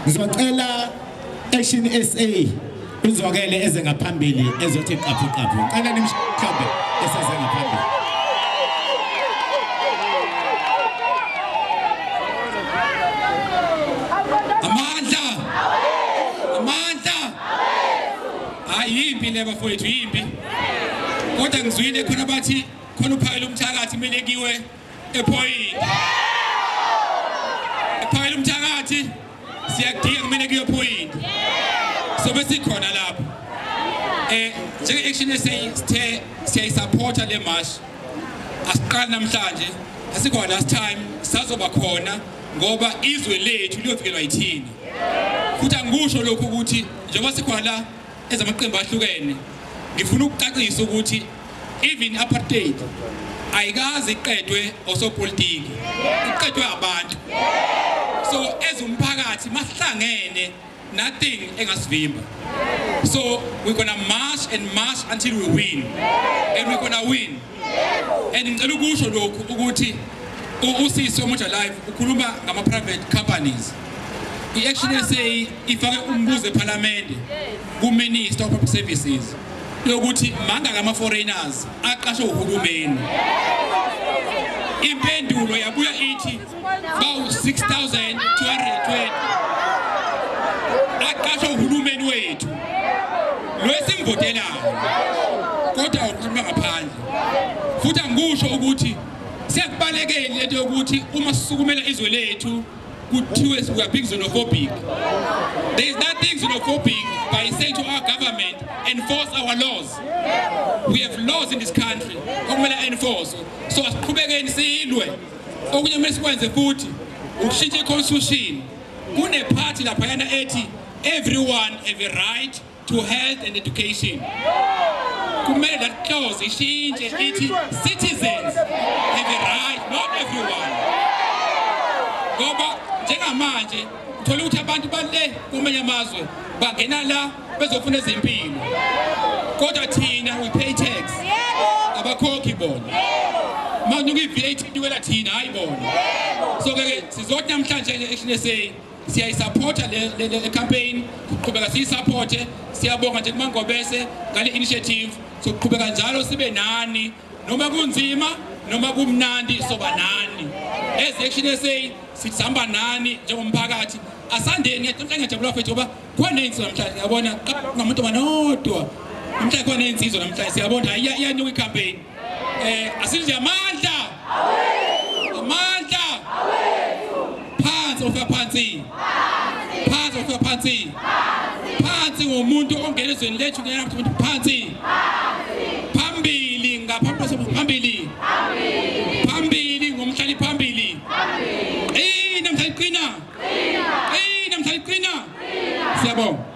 Ngizocela Action SA uzokele eze ngaphambili ezothi qaphu qaphu. Cela nimshabe eseze ngaphambili. Amandla! Amandla! Ayimbi le bafowethu, yimbi. Kodwa ngizwile khona bathi khona uphakela umthakathi kumele kiwe ephoyinti ephakela umthakathi siyadinga kumele kuyophoyinti sobe sikhona lapho eh njenge-action eseyithe siyayisapotha le mashi asiqali namhlanje asikho last time sazoba khona ngoba izwe lethu liyovikelwa yithina futhi angikusho lokhu ukuthi njengoba sikhona la ezamaqembu ahlukene ngifuna ukucacisa ukuthi Even apartheid ayikazi iqedwe osopolitiki iqedwe abantu so as umphakathi masihlangene nothing engasivimba so we're gonna march and march until we win and we're gonna win and ngicela ukusho lokhu ukuthi usisi omutsha live ukhuluma ngama private companies i-action sa ifake umbuzo ephalamende kuminister of public services lokuthi mangaka ama foreigners aqashwe uhulumeni impendulo yabuya ithi bawu 6220 aqashwe uhulumeni wethu lwesimvotelayo kodwa ukhuluma ngaphandle futhi angikusho ukuthi sekubalekeni lento yokuthi uma sisukumela izwe lethu kuthiwe we are being xenophobic there is nothing xenophobic by saying to our government enforce our laws we have laws in this country okumele enforce so asiqhubekeni silwe okunye kumele sikwenze futhi ukushintsha iconstitution kunephathi laphayana ethi everyone have a right to health and education kumele that clause ishintshe ithi citizens have a right not everyone ngoba njengamanje thola ukuthi abantu bale kumanye amazwe bangena la bezofuna ezempilo kodwa thina we pay tax abakhokhi bona manje uyi-VAT iwela thina hayi bona so ke sizoti namhlanje nje eShine say siyayisapotha le campaign kuqhubeka siyisapothe siyabonga nje kumangobese ngale initiative sokuqhubeka njalo sibe nani noma kunzima noma kumnandi soba nani as action sa sihamba nani njengomphakathi asandeni ngiyaqinisa ngiyajabula mfethu ngoba khona insizwa namhlanje yabona ngamuntu manodwa namhlanje khona insizwa namhlanje siyabona iyanyuka icampaign Eh asithi amandla. Amandla. Phansi ofika phansi. Phansi ofika phansi. Phansi ngomuntu ongena ezweni lethu ngena phansi. Phansi. Phambili ngaphambi kwasobu phambili. Phambili. Phambili ngomhlali phambili. Phambili. Eh namhlanje qina. Qina. Eh namhlanje qina. Qina. Siyabonga.